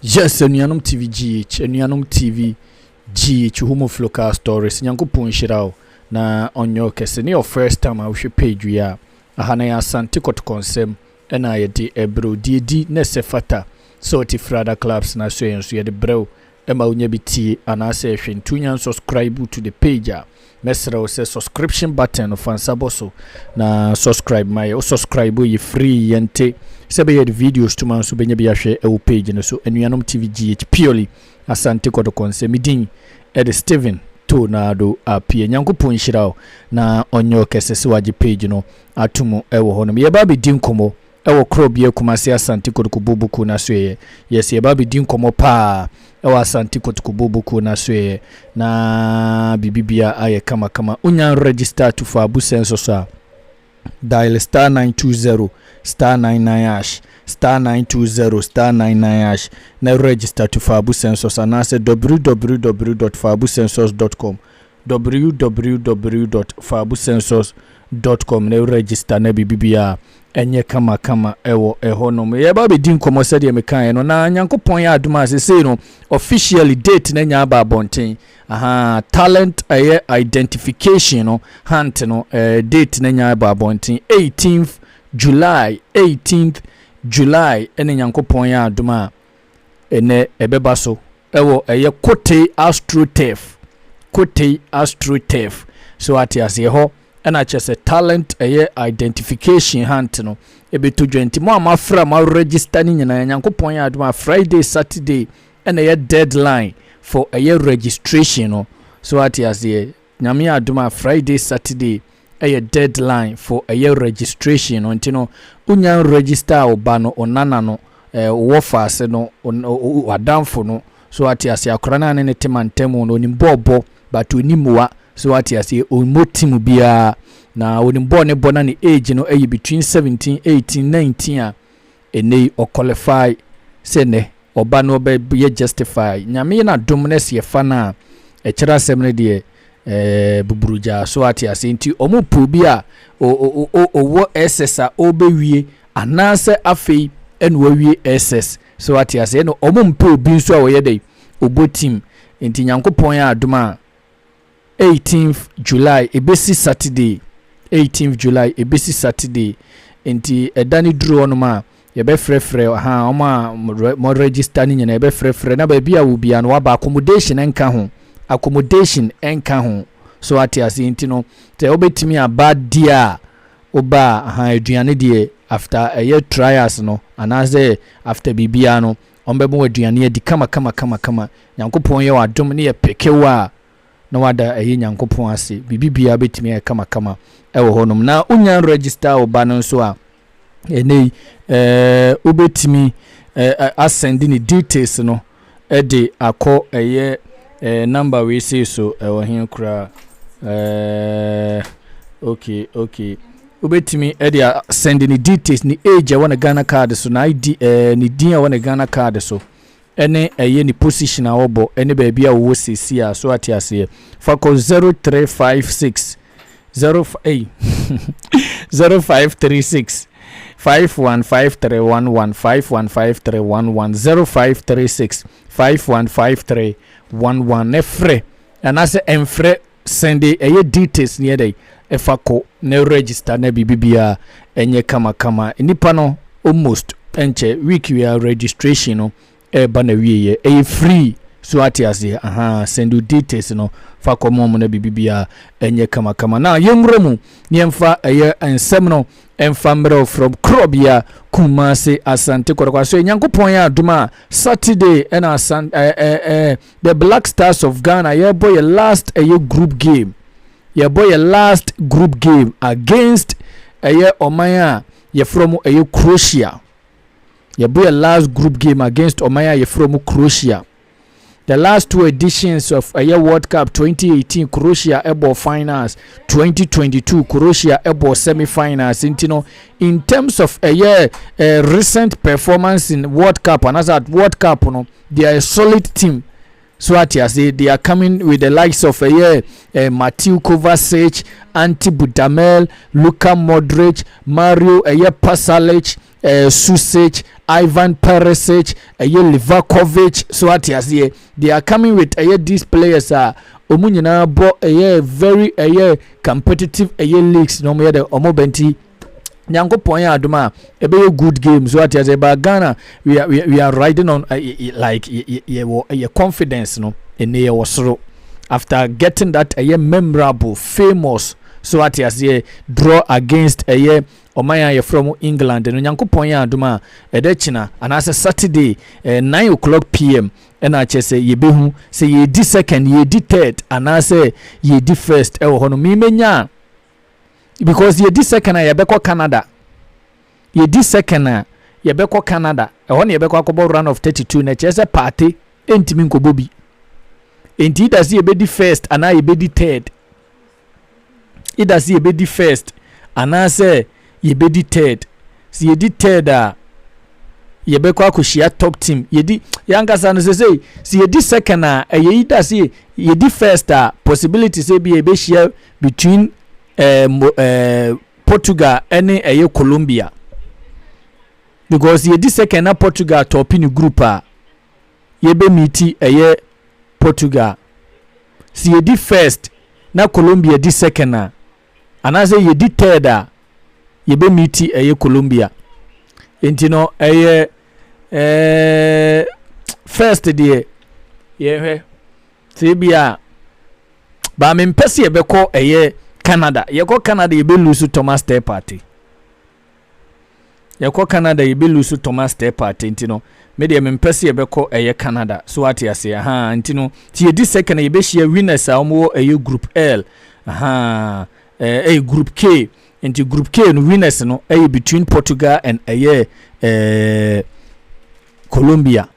Yes, anuanom TVGH, anuanom TV GH homofo local stories nyankopɔn nhyira wo na ɔnyɛ ɔkɛse ne your first time a wohwɛ page yi a aha na yɛ asante kɔtɔkɔnsɛm ɛna yɛde ɛbrɛw deɛ di na ɛsɛ fata sɛ ɔte frada clubs na so yɛn nso yɛde brɛw Ɛma wonya bi tie anaasɛ hwɛ ntu nya nsɔskraibu to the page a, mɛsrɛ wo sɛ sɔskripsyen button no fa nsa bɔ so na sɔskraibu ma yɛ. Wo sɔskraibu a ɛyɛ free, yɛnte sɛ ɛbɛyɛ a yɛde videos to ma nso bɛnya bi ahwɛ wɔ page no so. Anuanom TV GH Pioli, Asante Kotoko nsɛ. Me din de Stephen Tornado Appiah. Nyankopɔn nhyira wo na ɔnyɛ wo kɛse sɛ wagye page no ato mu wɔ hɔnom. Yɛreba abɛdi nkɔmmɔ Ɛwɔ Kro Bia Kumasi Asante Kotokuboo Bokuo no Asoɛeɛ Yes yɛreba abɛdi nkɔmmɔ paa ɛwɔ Asante Kotokuboo Bokuo no Asoɛeɛ na biribi bia ayɛ kama kama Wonya register to for abu census a dial star nine two zero star nine nine ash star nine two zero star nine nine ash na register to for abu census anaasɛ www dot faabucensus dot com www.faabucensus.com ne register na biribibiara ɛnyɛ kama kama ɛwɔ ɛhɔ nom. Yɛba abɛdi nkɔmmɔ sɛdeɛ mekaeɛ no na Nyankopɔn yɛ adom a sesei no officially date no anya aba abɔnten. Ahaa, talent ɛyɛ identification no hunt no eh, date no anya aba abɔnten 18th July, 18th July ɛne Nyankopɔn yɛ adom a. Ɛnnɛ, ɛbɛba so wɔ ɛyɛ Kotei AstroTurf, Kotei AstroTurf. So wate aseɛ? Ɛhɔ na kyerɛ sɛ talent ɛyɛ identification hunt no ɛbɛtɔ dwa. Nti mo a moafra mo register no nyinaa, Nyankopɔn yɛ adom a Friday, Saturday ɛna ɛyɛ deadline for ɛyɛ registration no. So wate aseɛ? Nyame adom a Friday Saturday yɛ deadline for ɛyɛ registration no nti no wo nya register wo ba no, wo nana no, eh, wo wɔfaase no, w'adamfo no, so wate aseɛ akora no a ne ne te mantamu no onim bɔ ɔbɔ but onim mmoa so wate aseɛ ɔmmɔ tim biara na onim bɔ ne bɔ na ne age no ɛyɛ between 17, 18, 19 a Ɛnɛ yi ɔ qualify sɛ nɛ ɔba no ɔbɛ yɛ justify. Nyame yɛ n'adom nɛ sɛ yɛfa no a ɛkyerɛ asɛm no deɛ ɛɛ buburugyaa so ate aseɛ nti ɔmo pɛ obi a o o o o owɔ SS a ɔbɛ wie anaasɛ afei ɛna wawie SS so ate aseɛ ɛna ɔmo mpɛ obi nso a ɔyɛ dɛ ɔbɔ team nti Nyankopɔn yɛ adom a Eighteenth July ɛbɛsi Saturday Eighteenth July ɛbɛsi Saturday Nti ɛda no duru hɔ nom a yɛbɛfrɛfrɛ ha wɔn a mo register no nyinaa yɛbɛfrɛfrɛ na baabi a wɔ biara no waba accommodation nka ho accommodation nka ho so wate aseɛ nti no sɛ wobɛtumi aba di a woba a aduane deɛ after ɛyɛ trials no anaasɛ after biribiara no Wɔbɛma wo aduane adi kamakamakamakama. Nyankopɔn yɛ wo adom ne yɛ peke wo a, na wada ayi Nyankopɔn ase. Biribi biara bɛtumi ayɛ kamakama wɔ hɔ nom. Na wo nya register wo ba no nso a, ɛnɛ yi, eh, wobɛtumi eh, asɛnde ne details no de akɔ ɛyɛ eh, number wei sei so ɛwɔ he koraa eh, okay, okay. Wobɛtumi de a sɛnde ne details, ne age a ɛwɔ ne Ghana card so, na ID, ɛɛ ne din a ɛwɔ ne Ghana card so, ɛne ɛyɛ ne position a ɔbɔ, ɛne baabi a ɔwɔ seesie a, so ate aseɛ. Fa kɔ 0356 0 ei 0536 515311 515311 0536 515311 ne frɛ anaasɛ ɛmfrɛ Sɛn de ɛyɛ details ne yɛdɛn ɛfa kɔ ne register na biribi biara ɛnyɛ kama kama nnipa no almost ɛnkyɛ week biara registration no ɛɛba na wieɛ ɛyɛ free so ate aseɛ ahaa sɛn de details no fa kɔ mom na biribi biara ɛnyɛ kama kama na yɛnwura mu ne yɛmfa ɛyɛ nsɛm no ɛmfa mmerɛw from korɔbea Kumase Asante Kɔtɔkɔ aso Nyankopɔn yɛ adom a Saturday ɛna asan ɛɛ ɛɛ The black stars of Ghana yɛbɔ yɛ last ɛyɛ group game yɛbɔ yɛ last group game against ɛyɛ ɔman a yɛfrɛ mu ɛyɛ Croatia yɛbɔ yɛ last group game against ɔman a yɛfrɛ mu Croatia the last two editions of ɛyɛ World Cup 2018 Croatia ɛbɔ finals 2022 Croatia ɛbɔ semi finals nti no in terms of ɛyɛ uh, recent performance in World Cup anaasɛ at World Cup no They are a solid team so ate ase they are coming with the likes of ɛyɛ eh, uh, eh, Matthew Kovacic, Ante Budamel, Luka Modric, Mario ɛyɛ eh, Pasalic, eh, Susic, Ivan Perisic, ɛyɛ Livakovic so ate aseɛ they are coming with ɛyɛ these players a wɔn nyinaa bɔ ɛyɛ very ɛyɛ competitive ɛyɛ leagues na wɔn yɛ dɛ wɔn bɛnti. nyankopɔn yɛ adom a ɛbɛyɛ good game so ate asɛ ba ghana we are, we are riding on uh, like yɛwɔ yɛ confidence no ɛnɛ yɛwɔ soro after getting that ɛyɛ memorable famous so ate aseɛ draw against ɛyɛ ɔman a yɛfrɛ mu england no nyankopɔn yɛ adom a ɛdɛ kyena anaasɛ saturday eh, 9 o'clock pm ɛna akyɛ sɛ yɛbɛhu sɛ yɛdi second yɛdi third anaasɛ yɛdi first ɛwɔ hɔ no memɛnya a because yɛdi second a yɛbɛkɔ canada yɛdi second a yɛbɛkɔ canada ɛhɔ na yɛbɛkɔ akɔbɔ run of 32 na ɛkyerɛ sɛ paate ɛntumi nkɔbɔ bi ɛnti ida sɛ yɛbɛdi first anaa yɛbɛdi third ida sɛ yɛbɛdi first anaasɛ yɛbɛdi third sɛ yɛdi third a yɛbɛkɔ akɔhyia top team yɛdi yɛankasa no sɛ sɛ sɛ yɛdi second a ɛyɛ yi da sɛ yɛdi first a possibility sɛ bia yɛbɛhyia Between eh, mo, eh, Portugal ne ɛyɛ Colombia because yɛdi second na Portugal tɔpi ne group a yɛbɛmiti ɛyɛ Portugal si yɛdi first na Colombia di second a anaasɛ yɛdi third a yɛbɛmiti ɛyɛ Colombia nti no ɛyɛ eh, first deɛ yɛhwɛ sɛ ebi a baa mempɛ sɛ yɛbɛkɔ ɛyɛ canada yɛkɔ canada yɛbɛlu so thomas tɛ party yɛkɔ canada yɛbɛlu so thomas tɛ party nti no medeɛ mempɛ sɛ yɛbɛkɔ ɛyɛ canada so ate aseɛ ha nti no nti yɛdi second yɛbɛhyia winners a wɔwɔ ɛyɛ group l ha ɛyɛ eh, eh, group k nti group k no winners no ɛyɛ between portugal and ɛyɛ eh, colombia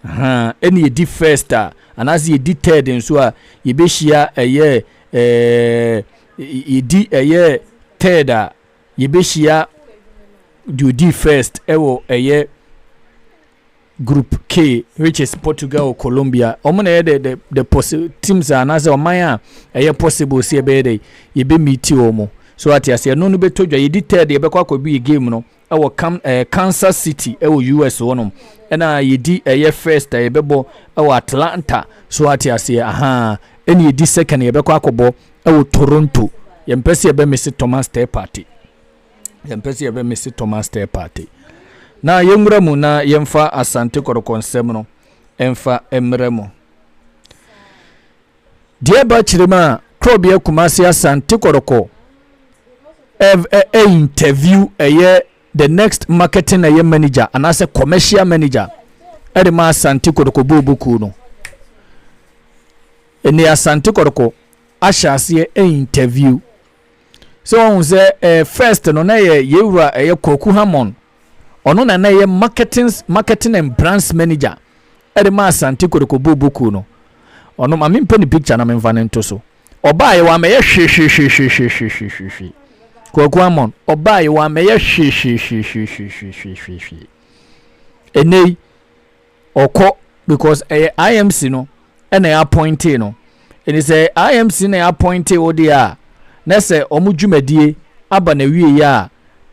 Ahaa ɛna yɛdi first a anaasɛ yɛdi third nso a yɛbɛhyia ɛyɛ ɛɛ yɛdi ɛyɛ third a yɛbɛhyia deɛ ɔdi first ɛwɔ ɛyɛ group K which is Portugal Colombia wɔn na ɛyɛ the the the possi teams a anaasɛ ɔman a ɛyɛ possible sɛ ɛbɛyɛ dɛ yɛbɛmiti wɔn so ate aseɛ ɛno no bɛtɔ dwa yɛdi third yɛbɛkɔ akɔbi yɛ game no ɛwɔ Kam ɛɛ Kansas City ɛwɔ US hɔ nom ɛna yɛdi ɛyɛ first a yɛbɛbɔ ɛwɔ Atlanta so ate aseɛ ahaa ɛna yɛdi second yɛbɛkɔ akɔbɔ ɛwɔ Toronto yɛmpɛ sɛ yɛbɛ mese Thomas Teh Partey yɛmpɛ sɛ yɛbɛ mese Thomas Teh Partey na yɛnwura mu na yɛmfa Asante Kɔtɔkɔ nsɛm no ɛmfa ɛmmerɛ mu Deɛ ɛba akyire mu a, Korɔbea Kumasi Asante Kɔrɔkɔ ɛv ɛ ɛ interview ɛyɛ the next marketing ɛyɛ manager anaasɛ commercial manager ɛde ma Asante Kɔrɔkɔ bɔɔlbɔ kuo no. Ɛnni Asante Kɔrɔkɔ ahyɛ aseɛ interview. sɛ wɔn sɛ ɛɛ first no na yɛ yɛ wura ɛyɛ kɔku hamon ɔno na na ɛyɛ marketing marketing and brands manager ɛde ma asante kɔdɔkɔ boboku no ɔno maame mpɛ ne picture na memfa ne nto so ɔbaa yɛ wɔamɛyɛ hwehwehwehwehwehwehwehwe kɔku hamon ɔbaa yɛ wɔamɛyɛ hwehwehwehwehwehwehwehwe ɛnɛ yi Ɔkɔ because ɛyɛ IMC no na yɛ appointee no. Ɛnti sɛ IMC na yɛ appointee wo deɛ a, na sɛ wɔn dwumadie aba n'awieɛ a,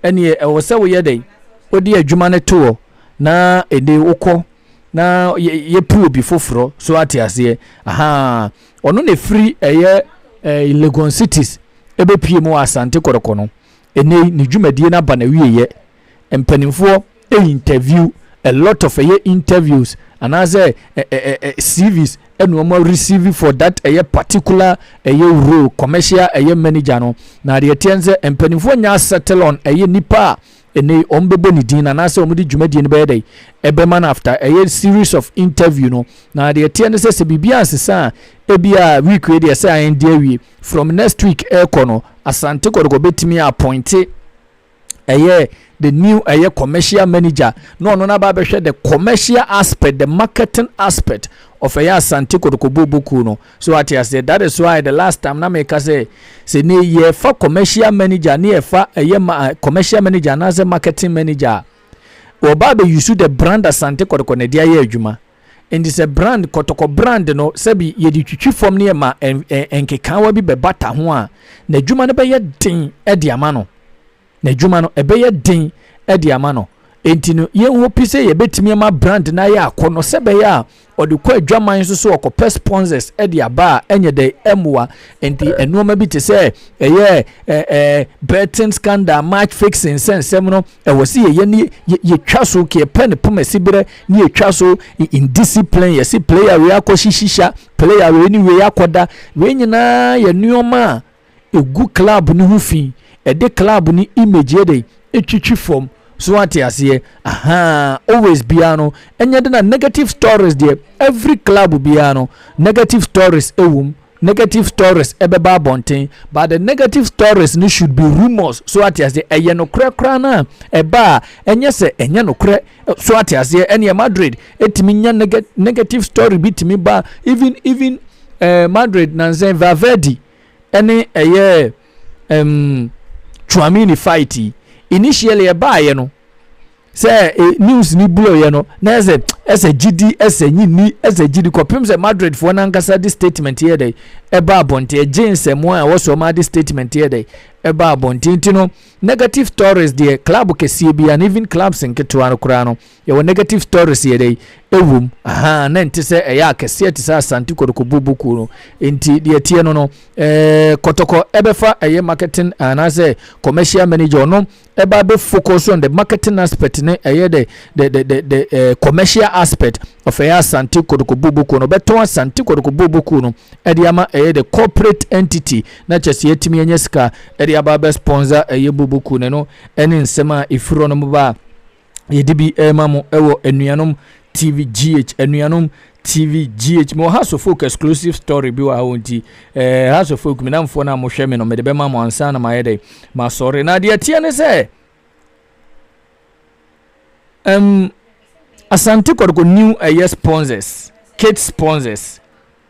ɛneɛ ɛwɔ sɛ woyɛ dɛn? Wode adwuma no to hɔ na ɛnde wokɔ na yɛpue obi foforɔ. So ate aseɛ? Ahaa. Ɔno na ɛfiri ɛyɛ eh, Legon Cities ɛbɛpie mu wɔ Asante Kɔrɔkɔ no. Ɛnɛ ne dwumadie no aba n'awieɛ. mpaninfoɔ interview a lot of ɛyɛ interviews anaasɛ ɛ ɛ ɛ cvs ɛna wɔn receive for that ɛyɛ particular ɛyɛ role commercial ɛyɛ manager no na adeɛ teɛ n sɛ mpaninfoɔ nyɛ asettle on ɛyɛ nipa a ɛnɛ wɔn bɛbɔ ne din anaasɛ wɔn de dwumadie no bɛyɛ dɛ ɛbɛma no after ɛyɛ series of interview no na adeɛ teɛ no sɛ sɛ biribi ansesa a ebi a week wei deɛ sɛ ayɛn de awie from next week ɛrekɔ no asante kɔdɔkɔ bɛtumi appointe ɛyɛ the new ɛyɛ commercial manager na ɔno na ba bɛhwɛ the commercial aspect the marketing aspect of ɛyɛ asante kotokobo boku no so ate aseɛ that is why the last time na meka sɛ sɛ ne yɛfa commercial manager ne yɛfa ɛyɛ ma eh, commercial manager anaasɛ marketing manager a wɔba abɛyusu the brand asante kɔtɔkɔ na ɛde ayɛ adwuma Enti sɛ brand kɔtɔkɔ brand no sɛbi yɛde twitwi fam ne ɛma nkekaawa bi bɛbata ho a, n'adwuma no bɛyɛ den de ama no. N'adwuma no ɛbɛyɛ den de ama no. Enti no yɛnhopi sɛ yɛbɛtumi ama brand no ayɛ akɔnɔ sɛ bɛyɛ a ɔde kɔ adwaman nso so ɔkɔpɛ sponsors de aba a ɛnyɛ dɛ ɛmmoa nti nneɛma bi te sɛ ɛyɛ ɛɛ betting scandal match fixing nsɛnsɛm no ɛwɔ sɛ yɛyɛ ne yɛtwa so kɛpɛ ne poma siberɛ ne yɛtwa so indiscipline yɛse player wei akɔhye shisha player wei ne wei akɔda wei nyinaa yɛ nneɛma a ɛgu club no ho fi ɛde club no image yɛ dɛ ɛtwitwi fam so ate aseɛ aha always biara no ɛnyɛ de na negative stories deɛ every club biara no negative stories ɛwom Negative stories ɛbɛba abɔnten but the negative stories no should be rumours so ate aseɛ ɛyɛ nokorɛ koraa no a ɛba a ɛnyɛ sɛ ɛnyɛ nokorɛ so ate aseɛ ɛneɛ Madrid ɛtumi nya negative story bi tumi ba even even ɛɛ eh, Madrid nansɛn Valverde ɛne ɛyɛ. um Tchouaméni fight yi initially ɛbaayɛ no sɛ e, news ni bloyɛ no na ɛsɛ ɛsɛ gyidi ɛsɛ nyini ɛsɛ gyidi kɔpem sɛ Madrid foɔ no ankasa de statement yɛ dɛ ɛba abɔnten ɛgye nsɛm a ɛwɔ so ɔma de statement yɛ dɛ ɛba abɔnten ti no negative stories deɛ club kɛseɛ bi and even clubs nketewa no koraa no Yɛwɔ negative stories yɛ dɛ ɛwom ahaa na ɛnte sɛ ɛyɛ akɛseɛ te sɛ Asante Kɔtɔkɔ Bobo kuo no nti deɛ ɛteɛ no no eh, Kɔtɔkɔ ɛbɛfa ɛyɛ marketing anaasɛ commercial manager ɔno ɛba bɛ focus on the marketing aspect ne ɛyɛ the the the the, the eh, commercial aspect of ɛyɛ Asante Kɔtɔkɔ Bobo kuo no ɔbɛtɔn Asante Kɔtɔkɔ Bobo kuo no ɛde ama ɛyɛ the corporate entity na kyɛ sɛ yɛtumi anya sika ɛde aba bɛ sponsor ɛyɛ Bobo kuo no ɛno ɛne nsɛm a ɛfiri hɔ no mo ba a yɛde bi rema mo wɔ anuanom tv gh anuanom tv gh mewɔ house of folk exclusive story bi wɔ ha wɔ nti eh, house of folk menamfoɔ no a mohwɛ me no mede bɛma mo ansa na mayɛ dɛ masɔre na deɛ teɛ ne sɛ um, asante kɔdɔkɔ new ɛyɛ eh, sponsors kate sponsors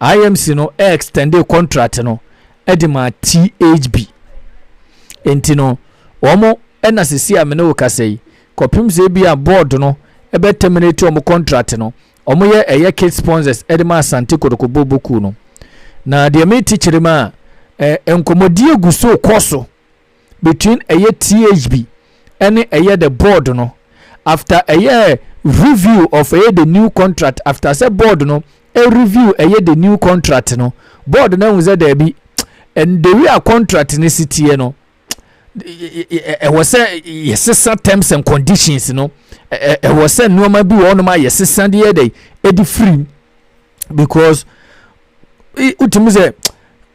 IMC no extendee contract no de maa THB. Enti no, wɔn na sisi a me ne wo kasa yi, kɔpem sɛ ebi a board no ɛbɛ terminate wɔn contract no, wɔn yɛ ɛyɛ kit sponsors de ma Asante Kotoko Bobo kuw no. Na deɛ me te kyerɛ mu a, eh, nkɔmɔdie gu so kɔ so. between ɛyɛ THB ɛne ɛyɛ the board no after ɛyɛ review of ɛyɛ the new contract after sɛ board no ɛ review ɛyɛ the new contract no board no ahu sɛ daabi and the way a contract no si teɛ no ɛwɔ sɛ yɛsesa terms and conditions no ɛwɔ sɛ nneɛma bi wɔ hɔnom a yɛsesa deɛ dɛ ɛde firi because wotumi sɛ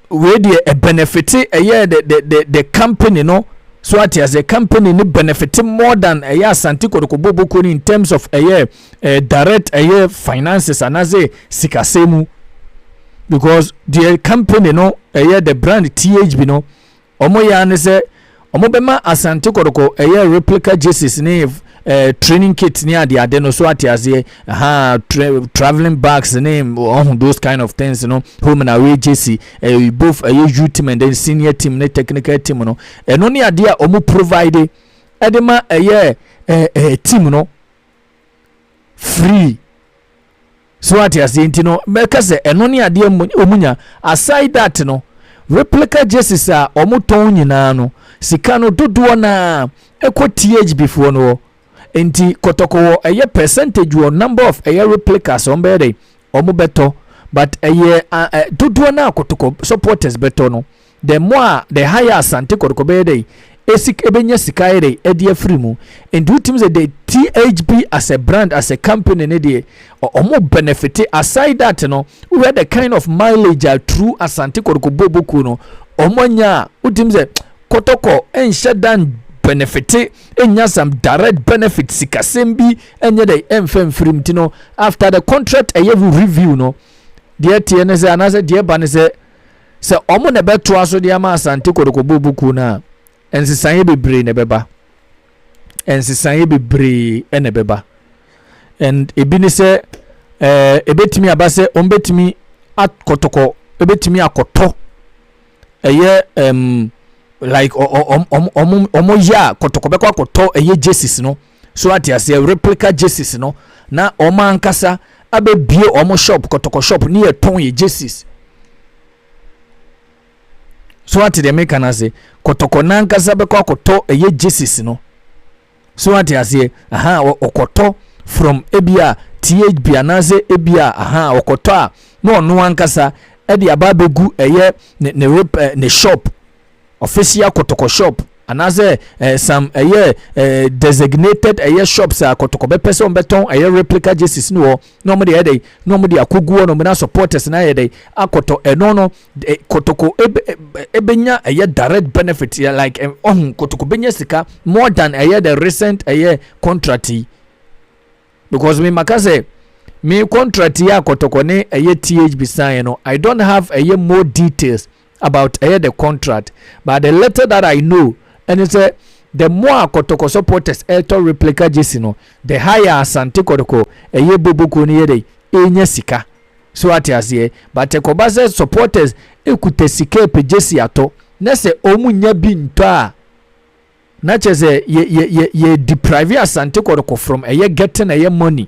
wei deɛ ɛbɛnɛfete ɛyɛ the the the the company no so ate aseɛ company no benefit more than ɛyɛ asante kɔtɔkɔ boboko no in terms of ɛyɛ eh, direct ɛyɛ finances anaasɛ sikasɛm mu because deɛ company no ɛyɛ the brand thb no Wɔyɛ ara ne sɛ wɔbɛma Asante Kɔtɔkɔ ɛyɛ replica jerseys ne ɛɛ eh, training kit ne adeade no so ate aseɛ ha tra traveling bags ne ɔho those kind of things no home and away jersey ɛɛ eh, both ɛyɛ youth team and then senior team ne technical team no ɛno ne adeɛ a wɔn provide ɛde ma ɛyɛ ɛɛ eh, ɛɛ team no free. So wate aseɛ? Nti no, mɛka sɛ ɛno ne adeɛ wɔn nya. Aside that no, replica jerseys a wɔn tɔn nyinaa no, sika no dodoɔ naa ɛkɔ THB foɔ no hɔ. Nti kɔtɔkɔ wɔ ɛyɛ percentage wɔ number of ɛyɛ replicas wɔn bɛyɛ dɛ wɔn bɛtɔ, but ɛyɛ dodoɔ naa kɔtɔkɔ supporters bɛtɔ no. Dɛ mbowa a dɛ ha yɛ Asante kɔrkɔ bɛyɛ dɛ esik ebenya sika ayɛ dɛ ɛde afri mu. Nti wotumi dze dɛ THB as a brand as a company no deɛ ɔ ɔmo benefite. Aside that no wohwɛ the kind of mileage a through Asante kɔrkɔ boobɔ kuo no ɔmo anya a wotumi dze kɔtɔkɔ nhyɛ da nn benefite nnya some direct benefit sikasɛm bi nyɛ dɛ ɛnfa mfri mu. Nti no after the contract ɛyɛ review no deɛ ɛteɛ ne sɛ anaasɛ deɛ ɛba ne sɛ sɛ wɔn na ɛbɛtoa so de ama asante kɔtɔkɔ bobo kuo no a nsesaeɛ bebree na ɛbɛba nsesaeɛ bebree na ɛbɛba and ebi ne sɛ ɛɛ ebetumi aba sɛ wɔn betumi akɔtɔkɔ ebetumi akɔtɔ ɛyɛ ɛm like wɔn wɔn wɔn wɔn yɛ a kɔtɔkɔ bɛkɔ akɔtɔ ɛyɛ jesus no. So wate aseɛ? Replica jerseys no na wɔn ankasa abɛbie wɔn shop kɔtɔkɔ shop ne yɛ tɔn yɛ jerseys. So wate deɛ meka no ase? Kɔtɔkɔ no ankasa bɛkɔ akɔtɔ ɛyɛ jerseys no. So wate aseɛ? Aha ɔkɔtɔ from ebi a THB anaasɛ ebi a aha ɔkɔtɔ a na ɔno ankasa ɛde aba abɛgu ɛyɛ ne ne rep ne shop Official kɔtɔkɔ shop anaasɛ eh, some ɛyɛ eh, eh, designated ɛyɛ shops a kɔtɔkɔ bɛpɛ sɛ wɔbɛtɔn ɛyɛ replica jerseys no hɔ na wɔn de ɛyɛ dɛ na wɔn de akɔgu hɔ na wɔn na supporters na ayɛ dɛ akɔtɔ ɛno no eh, kɔtɔkɔ ebe ebenya ɛyɛ direct benefit eh, like eh, ɔho kɔtɔkɔ benya sika more than ɛyɛ the recent ɛyɛ contract yi. because me maka sɛ me contract yɛ akɔtɔkɔ ne ɛyɛ THB sign no I don't have ɛyɛ more details about ɛyɛ the contract but the little that I know ɛne sɛ the more akɔtɔkɔ supporters ɛtɔ replica jersey no the higher asante kɔtɔkɔ ɛyɛ boboko no yɛ dɛ ɛnya sika so ate aseɛ but ɛkɔba sɛ supporters ɛkuta sika ɛpɛ jersey atɔ na sɛ ɔmu nya bi ntɔ a Na kyerɛ sɛ yɛ yɛ yɛ yɛ deprive asante kɔdɔkɔ from ɛyɛ getting ɛyɛ money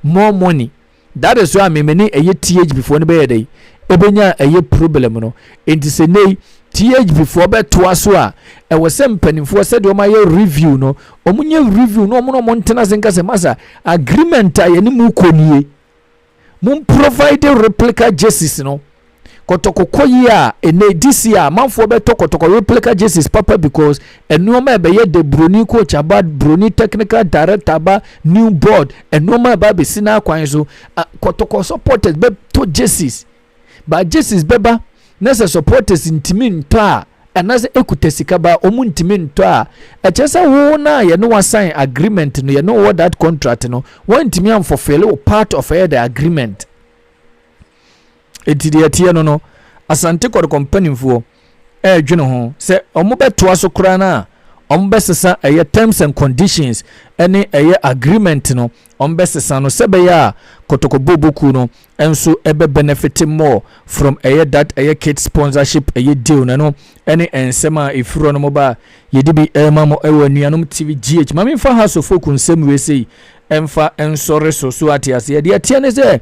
more money that is why me me ne ɛyɛ THB foɔ no bɛyɛ dɛ ɛbɛnya ɛyɛ problem no nti sɛ nei THB foɔ bɛtoa so a ɛwɔ sɛ mpanimfoɔ sɛdeɛ wɔn ayɛ review no wɔn nyɛ review no wɔn na wɔn ntena ase nka sɛ masa agreement a yɛne mu kɔ nie Mum provider replica jerseys no kɔtɔkɔkɔ yi a ɛnɛ this year amanfoɔ bɛtɔ kɔtɔkɔ replica jerseys papa because nneɛma a ɛbɛyɛ the broni coach aba broni technical director aba new board nneɛma a ɛba abɛsi n'akwan so kɔtɔkɔ supporters bɛtɔ jerseys But Jesus bɛba na sɛ supporters ntumi ntɔ a anaasɛ ekuta sika ba a wɔn ntumi ntɔ a, ɛkyerɛ sɛ wo no a yɛne wo asan agreement no, yɛne wo wɔ that contract no, wɔntumi amfulfill wo part of ɛyɛ the agreement. Enti deɛ ɛteɛ no no, Asante Kɔtɔkɔ mpanimfoɔ. ɛredwene ho sɛ wɔbɛtoa so koraa no a, wɔbɛsesa ɛyɛ terms and conditions ne ɛyɛ agreement no, wɔbɛsesa no sɛ ɛbɛyɛ a Kotoko Booboo kuo no nso ɛbɛ benefit more from ɛyɛ that ɛyɛ kit sponsorship ɛyɛ deal no. Ɛno ɛne nsɛm a ɛfiri hɔ no ba a yɛde bi ɛrema mo ɛwɔ anuanom TV GH. Ma memfa House of Folk nsɛm wei sei ɛmfa nsɔre so so ate aseɛ. Deɛ ɛteɛ ne sɛ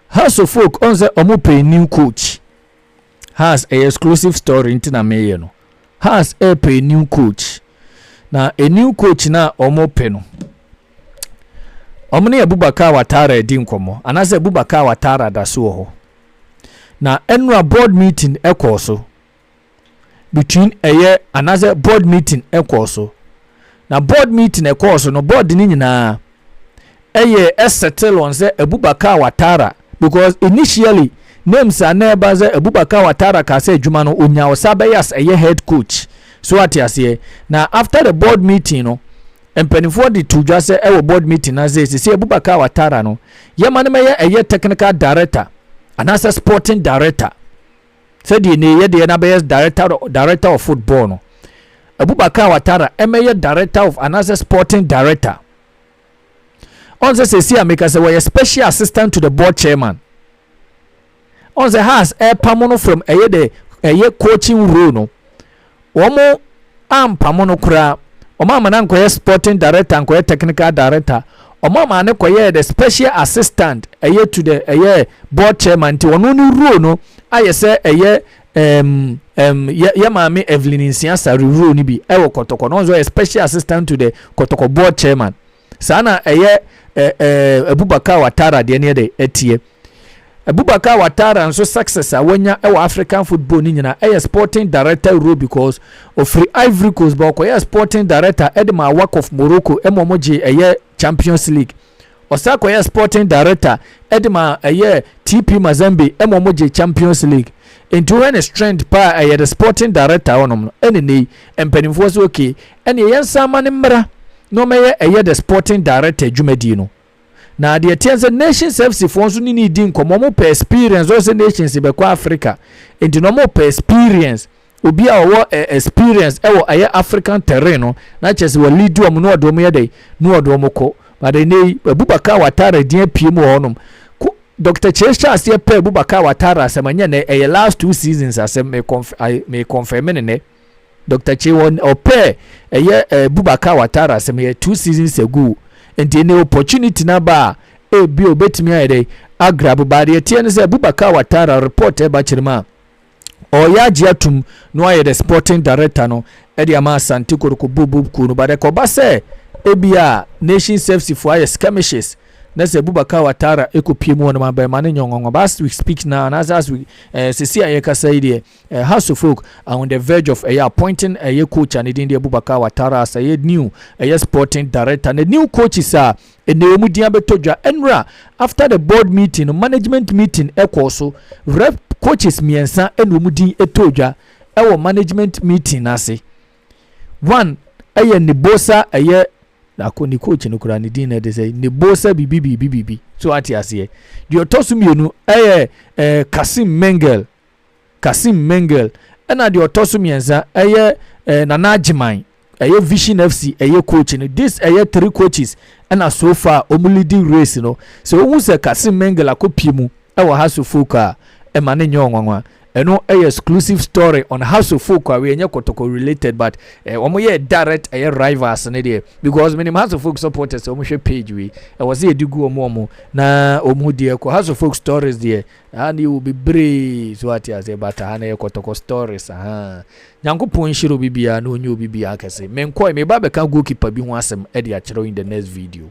House of Folk ɔn sɛ wɔn pay new coach. Haas ɛyɛ exclusive story nti na meyɛ no. Haas ɛɛpɛ a new coach. Na a new coach no a wɔn pɛ no, wɔn ne Abubakar Watara adi nkɔmɔ anaasɛ Abubakar Watara da so wɔ hɔ. Na ɛnura board meeting ɛkɔɔ so between ɛyɛ anaasɛ board meeting ɛkɔɔ so. Na board meeting ɛkɔɔ so no board ne nyinaa ɛyɛ ɛsettle on sɛ Abubakar Watara because initially names a na ɛba sɛ Abubakar Watara kaa sɛ adwuma no onya Osabeyas ɛyɛ head coach so ate aseɛ na after the board meeting no mpanimfoɔ de to dwa sɛ ɛwɔ board meeting na sɛ sisi Abubakar Watara no yɛma no mɛyɛ ɛyɛ technical director anaasɛ sporting director Sɛdeɛ nnɛ yi yɛdeɛ no abɛyɛ director, director of football no abubakar watara ɛmɛyɛ director of anaasɛ sporting director ɔn sɛ sɛsi a meka sɛ wɔyɛ special assistant to the board chairman ɔn sɛ has ɛpamo no from ɛyɛ dɛ ɛyɛ coaching role no wɔn ampamo no koraa wɔn ama no ankɔyɛ sporting director ankɔyɛ technical director wɔn ama no kɔyɛ the special assistant ɛyɛ to the ɛyɛ board chairman nti wɔn ne role no ayɛ sɛ ɛyɛ ɛm ɛm yɛ yɛ maame evelyn nsia sari role no bi ɛwɔ kɔtɔkɔ no wɔn nso yɛ special assistant to the kɔtɔkɔ board chairman. Saa na ɛyɛ ɛ ɛ Abubakar Watara deɛ neɛ dɛ ɛteɛ. Abubakar Watara nso success a wanya wɔ African football no nyinaa ɛyɛ sporting director role because ɔfiri Ivory Coast ba ɔkɔyɛɛ sporting director ɛde maa WAC of Morocco ɛma wɔn gyee ɛyɛ Champions League. Ɔsan kɔyɛɛ sporting director ɛde maa ɛyɛ TP Mazembe ɛma wɔn gyee Champions League. Nti wohwɛ ne strength paa ɛyɛ the sporting director hɔnom no ɛne ne yi mpanimfoɔ sɛ okay Ɛneɛ yɛnsan mma no mmra na ɔmmɛyɛ ɛyɛ the sporting director dwumadie no. Na deɛ ɛteɛ ne sɛ Nations FC foɔ nso ne no redi nkɔmmɔ, wɔpɛ experience, wɔhwɛ sɛ Nations bɛkɔ Africa, nti no wɔpɛ experience, obi a ɔwɔ eh, experience ɛwɔ ɛyɛ African terrain no, na kyerɛ sɛ wɔ lead wɔn na ɔde wɔn yɛ dɛn, na ɔde wɔn kɔ. But ɛnɛ yi, Abubakar Watara din apue mu wɔ hɔnom. Ko- Dr. Che hyɛ aseɛ pɛ Abubakar Watara asɛm, ɛnyɛ nɛ, ɛyɛ last two seasons asɛm, me conf- I- me confirm ne nɛ. Doctor Kye wɔ ɔpɛ ɛyɛ Bubakar Watara asɛm yɛ two seasons ago nti ɛnɛ opportunity na ba a ebi obetumi ayɛ dɛ agrab ba deɛ teɛ no sɛ Bubakar Watara report ɛba kyerɛ mu a ɔyɛ agye atum no ayɛ the sporting director no ɛde ama Asante Kotoko Bobob kuo no ba dɛ kɔba sɛ ebi a Nation Service fo ayɛ skirmishes na sɛ Bubakar Watara ekopie mu wɔn ma bɛn ma ne nyɔngɔngɔ but as we speak now anaasɛ as we ɛɛ sisi a yɛkasa yi deɛ Eh ha so folk are on the verge of ɛyɛ appointing ɛyɛ coach a ne din de Abubakar Watara as ɛyɛ new ɛyɛ sporting director na new coaches a ɛnɛ wɔn din abɛtɔ dwa ɛnura after the board meeting no management meeting ɛkɔɔ so rep coaches mmiɛnsa ɛna wɔn din ɛtɔɔ dwa ɛwɔ management meeting n'ase one ɛyɛ Nebosa ɛyɛ ako ne coach no koraa ne din na ɛde sɛ Nebosa bibi bibi bibi so ate aseɛ deɛ ɔtɔ so mmienu ɛyɛ ɛɛ Kasim Mengel Kassim Mengel, ɛna deɛ ɔtɔ so mmiɛnsa ɛyɛ eh, Nana Agyeman, ɛyɛ Vision FC ɛyɛ coach no. This ɛyɛ three coaches ɛna so far wɔn leading race no. Sɛ wohu sɛ Kassim Mengel akɔpie mu ɛwɔ Hearts of Oak a, ɛma no nyɛ ɔnwanwa. Ɛno ɛyɛ exclusive story on Hearts of Oak a ɛnyɛ kɔtɔkɔ related but eh, wɔn yɛ direct ɛyɛ rivals no deɛ because menim Hearts of Oak supporters sɛ wɔn hwɛ page wei ɛwɔ sɛ yɛde gu wɔn wɔn na wɔn ho deɛ kɔ Hearts of Oak stories deɛ Haa deɛ wɔ bebree so ate aseɛ but ha no yɛ kɔtɔkɔ stories ahaa Nyankopɔn nhyira obi biara na ɔnyɛ obi biara kɛse menkɔɛ meba abɛka goalkeeper bi ho asɛm de akyerɛ wo in the next video.